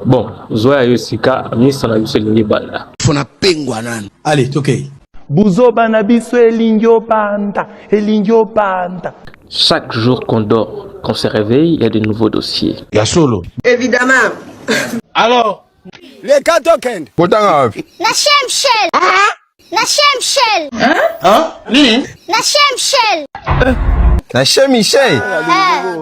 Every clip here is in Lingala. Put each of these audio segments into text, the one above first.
bon zwa ya yo sika misa na biso elingi banda fona pengwa nani ale tokei buzoba na biso elingi obanda elingi obanda chaque jour qu'on dort qu'on se réveille il y a de nouveaux dossiers ya solo évidemment alors les cas token kotanga wapi na shemshel ah na shemshel hein hein nini na shemshel na shemshel eh.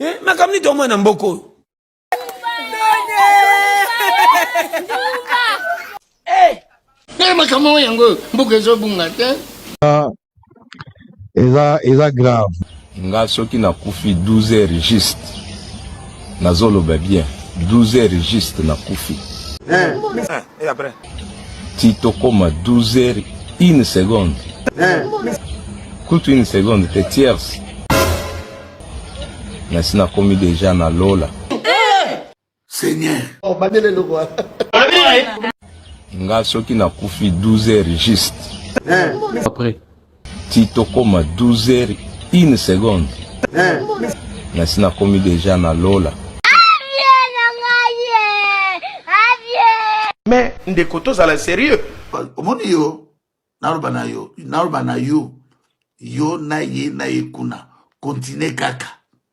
eh, makambo nini toomona na mboka oyo ndenge makambo oyo yango oyo mboka ezobunga te ah, eza eza grave nga soki nakufi 12 heures juste nazoloba bien 12 heures juste nakufi eh, eh, ti tokoma 12 heures une seconde eh, kutu une seconde te tierce Merci na komi deja na lola. Seigneur. Oh, bandele loko. Nga soki na kufi 12 heures juste. Eh. Après. Ti tokoma 12 heures une seconde. Eh. Merci na komi deja na lola. Mais ndeko tozala sérieux. Omoni yo naloba na yo naloba na yo yo na ye na ye kuna continue kaka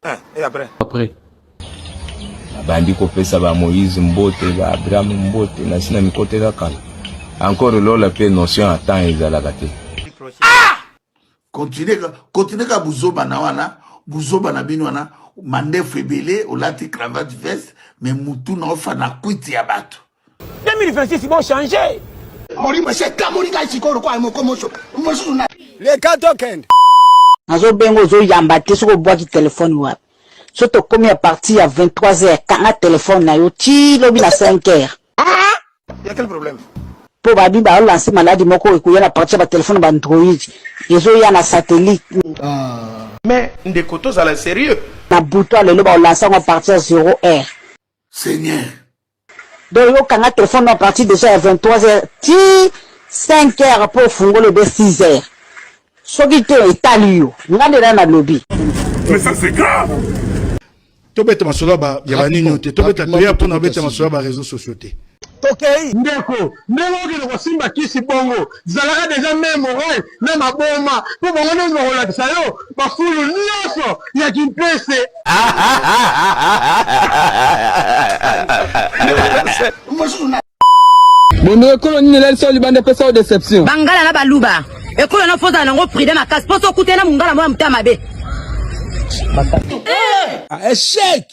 eh, et après après abandi kopesa ba moïse mbote ba abraham mbote nasi na mikote kaka encore lola mpe notion ya temps ezalaka te ah! continue continue ka buzoba na wana buzoba na bino wana mandefu ebele olati cravate veste me mutu na ofana kwiti ya bato 2026 bo changer. Molimo se kamoli kai sikoro kwa moko moso. Moso na. Le kato kende. Nazo bengo zo yamba te soko bwaki telefone wapi. So tokomi a partir ya 23h kanga telefone na yo ti lobi na 5h. Ah, ya quel problème? mpo babi baolanse maladi moko ekoya na parti ya batelefone ba android ezoya na satellite ah. mais ndeko tozala serieux na butu ya lelo baolanse yango parti ya 0 heure seigneur Donc yo kanga telephone na partir déjà ya 23 heures ti 5 heures po fungola ebe 6 heures. Soki te etali yo. Nga nde na nalobi. Mais ça c'est grave. tobeta masolo ya banini te tobeta toya mpona beta masolo ya bareseau sociaux te tokei ndeko ndenge okende kosimba kisi bongo Zalaka deja mère morale na maboma po bango nionso bakolakisa yo ba fulu nionso ya kimpese. Bondo ekolo nini elali solo libanda epesa yo deception? Bangala na baluba ekolo na fozala nango pride makasi po sokutana mungala mwa motema mabe. Eh! Ah, echec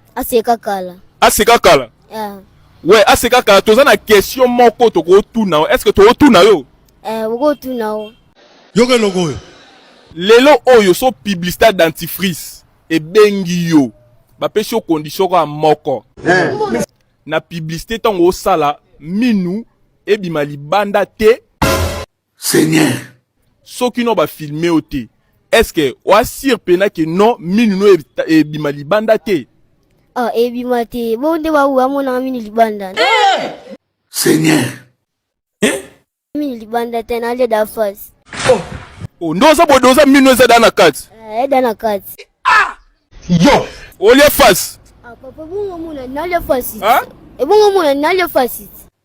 aseka kala aseka kala yeah. we aseka kala toza na question moko tokotuna yo est ce que tokotuna yo eh, okotuna yo yoka eloko oyo lelo oyo so publicité ya dentifrice ebengi yo bapesi yo condition kaka moko eh. na publicité ntango osala minu ebima libanda te Seigneur. Soki no ba filme yo te, est-ce que o assure pena que non minu no ebima libanda te? Ah, ebima te. Bo nde ba wa mona minu libanda. Eh! Seigneur. Eh? Minu libanda te na le da face. Oh. Oh, ndo oza bodo oza minu eza da na kati. Eh, da na kati. Ah! Yo. Olie face. Ah, papa bongo mona na le face. Hein? Ebongo mona na le face.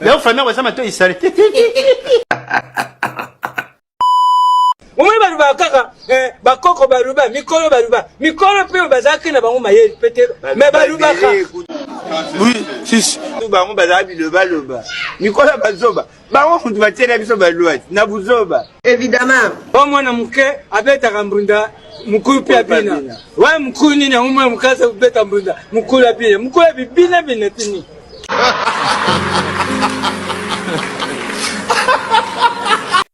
Leo famille yango eza matoi sale te omoni balobaka kaka eh, bakoko baluba mikolo baluba mikolo mpe bazalaki na bango mayeli mpe te me balubaka bango bazala bilobaloba mikolo ya bazoba bango kutu batiela biso balwati na buzoba evidemment o mwana moke abetaka mbunda mukulu mpe abina waye mukulu nini yango mwana moke aza kobeta mbunda mukulu abina mukulu abi bina bina tini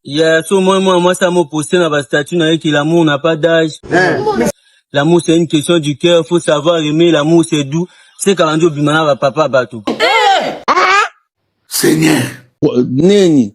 ya so moi moi mwasi amoposte na bastatut na ye ke l'amour na pas d'age eh. l'amour c'est une question du cœur faut savoir aimer l'amour c'est doux se kala nde obima na bapapa bato eh. seigneur neni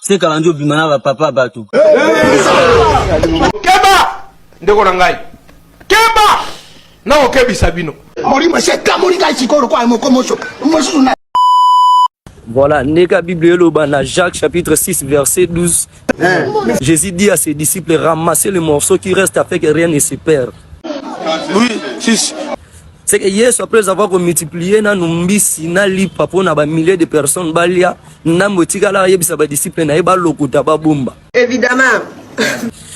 Seka bandi obima na ba papa batu. Keba ndeko na ngai. Keba na okebisa bino. Molimo seka moni ngai sikolo kwa moko moso. Mosusu na Voilà, Neka Bible Eloba, na Jacques chapitre 6 verset 12. Hein? Jésus dit à ses disciples, ramassez les morceaux qui restent afin que rien ne se perde. Oui, fils. C'est que Yesu après avoir ko multiplier na numbisi na lipa pona ba milliers de personnes balia nambo tikala yebisa ba disciples na ye ba lokuta ba bomba. Évidemment.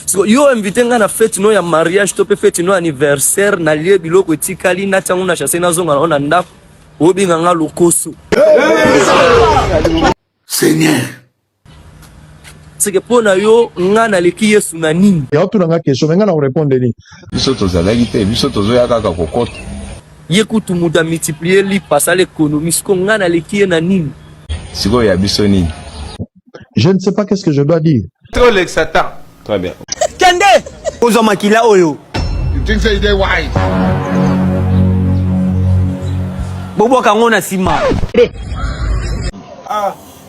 So, yo invité nga na fête no ya mariage to pe fête no anniversaire na lie biloko etikali na tango na chasse na zonga na ndako obinga nga lokoso. Seigneur seke mpo na yo nga naleki yesu na nini ya otuna nga question me nga na korepondre nini biso tozalaki te biso tozoya kaka kokota ye kutu moto amultiplie lipa asala ekonomi siko nga naleki ye na nini sikoyo ya biso nini je ne sais pas qu'est ce que je dois dire trop le satan très bien kende kozwa makila oyo you think say they wise bobwaka yango na nsima ah.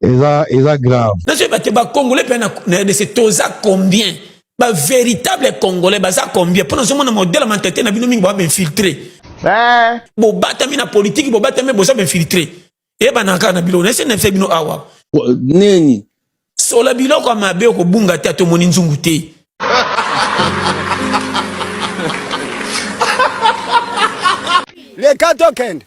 eza eza grave nazoyeba te bacongolais mpe na rdc toza combien bavéritable congolais baza combien mpo nazomona modele ya mentalité na bino mingi baa bainfiltre eh. bobatami na politiki bobatami boza bainfiltre eyebana kaka na biloko naese nafe bino awa nini sola biloko ya mabe okobunga te atomoni nzungu te leka tokende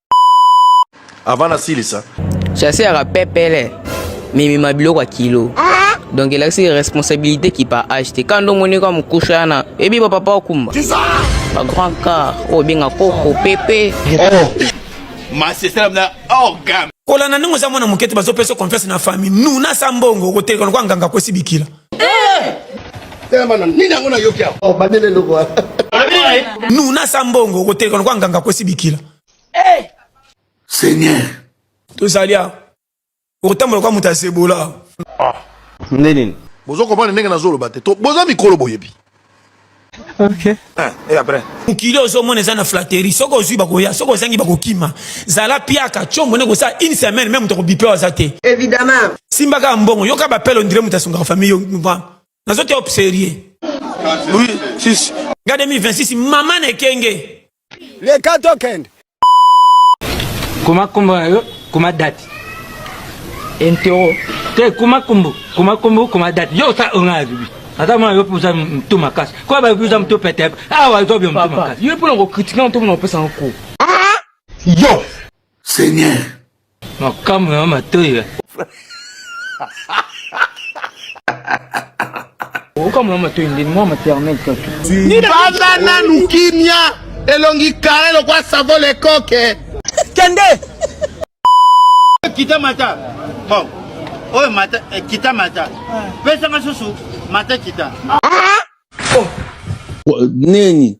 avant nasilisa chase yaka pepele mimima biloko ya kilo donc elakisi responsabilité qui par age te kando omoni kaka mokusha yana ebi bapapa okumba ba grand car oyo obenga koko pepe kolanda ndenge oza mwana moke te bazopesa confiance na famille nuna sa mbongo okoteleka lokwa nganga akwesi bikila nuna sa mbongo okotelekana kwa nganga akwesi bikila eh! seigneur tozali awa okotambola kwa moto ya zebola ah. nde nini bozokomana ndenge nazoloba te boza mikolo boyebi Okay. Eh, et après mokili ozomona eza na flatterie soki ozwi bakoya soki ozangi bakokima zala piaka combo nde kosala une semaine meme moto akobipe aza te évidemment simba kaka mbongo yoka bapele ondire moto asungaka famille yo nazoteya op sérieux oui, si, si. nga 2026 mama na ekenge Leka tokende. Koma kombo na yo, koma date. Entero. Te koma kombo, koma kombo, koma date. Yo sa onga ya bibi. Ata mwana yo poza mtu makasi. Kwa ba biza mtu pete. Awa zo bio mtu makasi. Yo pona ko critiquer mtu mona opesa nko. Yo. Seigneur. Makambo na matoyi. Okambo na matoyi ndeni mwa maternelle kaka. Banda nanu kimia elongi kare lokwa savo lekoke. Kende. Kita mata. Bon. Oyo mata eh, kita mata. Pesa nga susu mata kita. Ah! Oh. Neni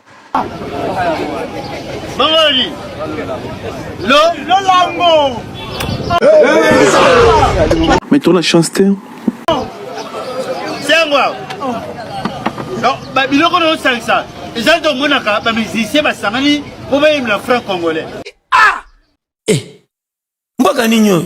Mangoli. Lo lolango. Mais tu as la chance t'es. C'est moi. Non, bah biloko no sangisa. Eza to monaka ba musiciens ba sangani ko ba yimla franc congolais. Ah! Eh. Mboka nini oyo?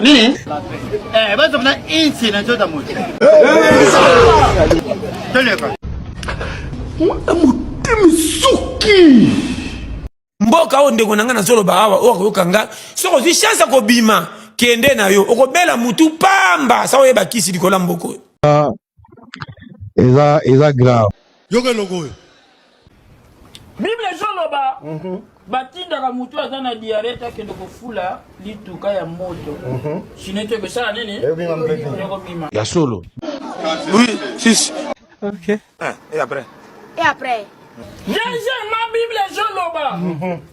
nini eh, bazokuna insi na nzoto moto toleka motema esuki mboka oyo ndeko na ngai nazoloba awa oyo akoyoka nga soki ozwi chance ya kobima kende na yo okobela mutu pamba sa oyeba kisi likolo ya mboko oyo eza eza grave yoka eloko oyo bible ezoloba mhm. batindaka motu aza na diare te akende kofula lituka ya moto mhm. sino ete ekosala nini ekobima ya solo oui sisi ok eh, et après et après deuxièmement bible ezoloba mhm.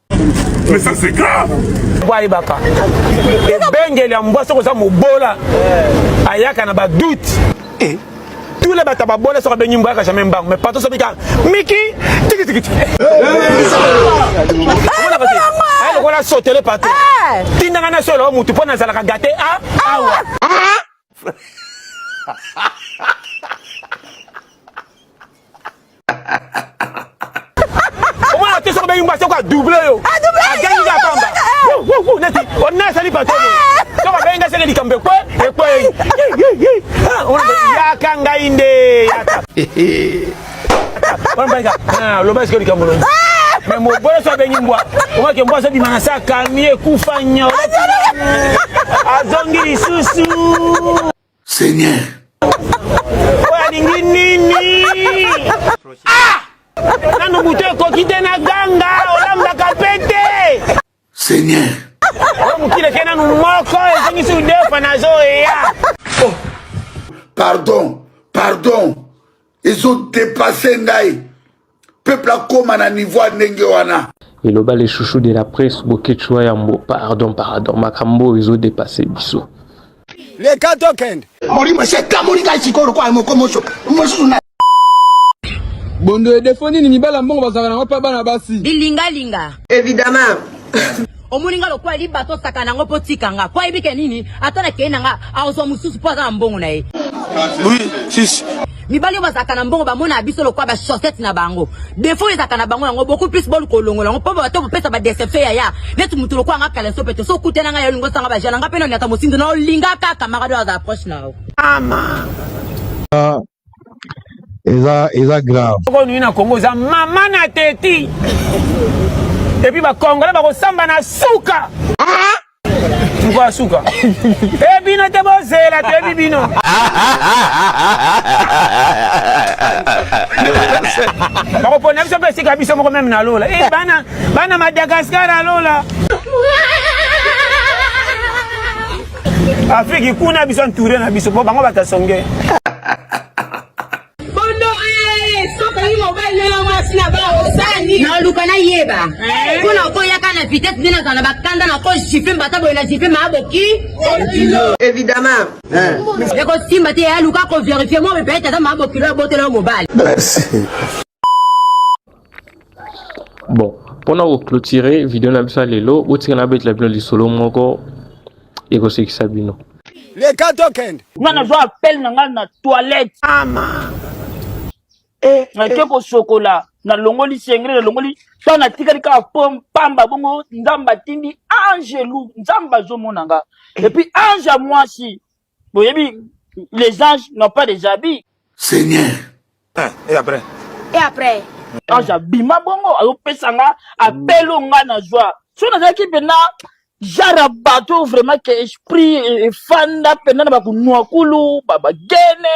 mais ça c'est grave boyebaka ebengeli ya mbwa soki oza mobola ayaka na badoute eh. tous les bato babola soki abengi mbwa yaka jamais mbango mais pato soki kaka miki tikitikiti lokola sotele pato eh. tindanga na solo motu mpo nazalaka gate a ah, ah, awa ah. omona te soki obengi mwasi oko adouble yo agangi ya pamba neti onasali patron soki abengi ngai seke likambo ekwe ekwei yaka ngai nde yaka wana mbalika ah, loba esike likambo longi me mobolo so abengi mbwa omake mbwa azobima na se akangi ekufa nyo azongi lisusu seigneur oyo alingi nini ah! nanu butu ekoki te na ganga olambaka mpe te Seigneur. Oyo mokili ke nanu moko ezongisi udefa nazo eya. Oh, pardon, pardon. Ezo depasser ngai. Peuple akoma na niveau ya ndenge wana. Eloba le chouchou de la presse Boketshu Yambo. Pardon, pardon. Makambo oyo ezo depasser biso. Leka tokende. Molimo esi etamoli ngai sikoyo lokola moko mosusu na Bondo e defo nini mibala mbongo bazalaka nango pa bana basi. Bilingalinga. Evidemment. omoni nga lokola liba tosaka nango mpo tika nga mpo ayebi ke nini ata nakei na nga akozwa mosusu mpo aza na mbongo na ye mibali oyo bazalaka na mbongo bamonaka biso lokola bachaussette na bango defo ezalaka na bango yango beaucoup plus boluka olongola yango mpo bato bopesa badecepfe ya ya neti motu lokola nga kaleso pete so okute na ngai olingi osanga bajana nga mpe noniata mosindo na olinga kaka marado aza approche na yo ama ah, eza eza grave oko nini na Congo eza mama na teti et puis ba congolais ba ko samba na suka moko ya suka e bino te bozela toyebi bino bakopona biso mpe esika biso moko meme na lola e bana bana madagascar ya lola Afrique kuna biso entouré na biso po bango batasonge. Bondo eh soka yi mobali na mwasi na ba osani. Na luka na yeba. Eh? Kuna ko yaka na vitesse dina kana bakanda na ko jipe mbata boye na jipe ma boki. Évidemment. Eh. Eko simba te ya luka ko vérifier mo be peut-être ma boki lo botela mobali. Merci. bon mpona koclotire video na biso ya lelo botika nabetela bino lisolo moko ekosekisa bino leka tokende nga nazwa appel na ngai na toilette ama eh, nake eh. kosokola nalongoli sengre nalongoli to natikali kaka po mpamba bongo nzambe atindi angelu nzambe azomona nga eh. epuis ange ya mwasi boyebi les anges n'ont pas des habits seigneur hein, et après et après ange abima bongo azopesa nga apelo nga na zwa so nazalaki mpena genre ya bato vraiment ke esprit efanda mpena na bakunuakulu bagene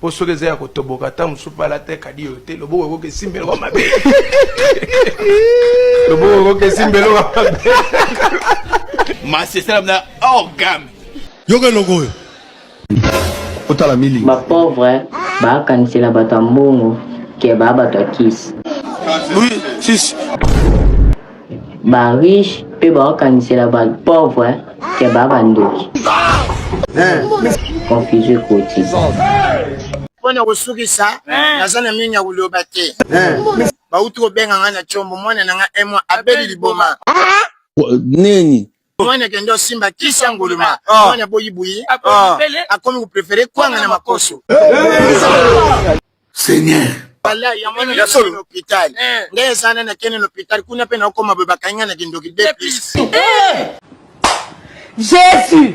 po soki eza ya kotoboka ntango mosusu mpe alata ekadi yo te loboko ekoki esimba eloko mabe loboko ekoki esimba eloko mabe masi esalami na hors gamme yoka eloko oyo otala mili bapauvre baakanisela bato ya mbongo ke baa bato ya kisi oui, si, si. ba riche pe baokanisela ba pauvre ke ba bandoki confuse ekoti mpo na kosukisa naza na mingi ya koloba te bauti kobenga ngai na combo mwana na ngai emwa abeli liboma nini mwana kende osimba kisa nguluma ah. mwana boyi buyi ah. Ah. akomi koprefere kwanga na makoso seigneur bala ya mwana ya solo hôpital eh. nde ezana na kende na hôpital kuna mpe naokoma boye bakanga na kindoki de plus eh. jésus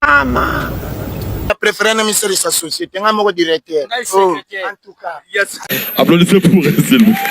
ama na préféré na misalisa société ngai moko directeur oh, en tout cas yes. applaudissez pour elle s'il vous plaît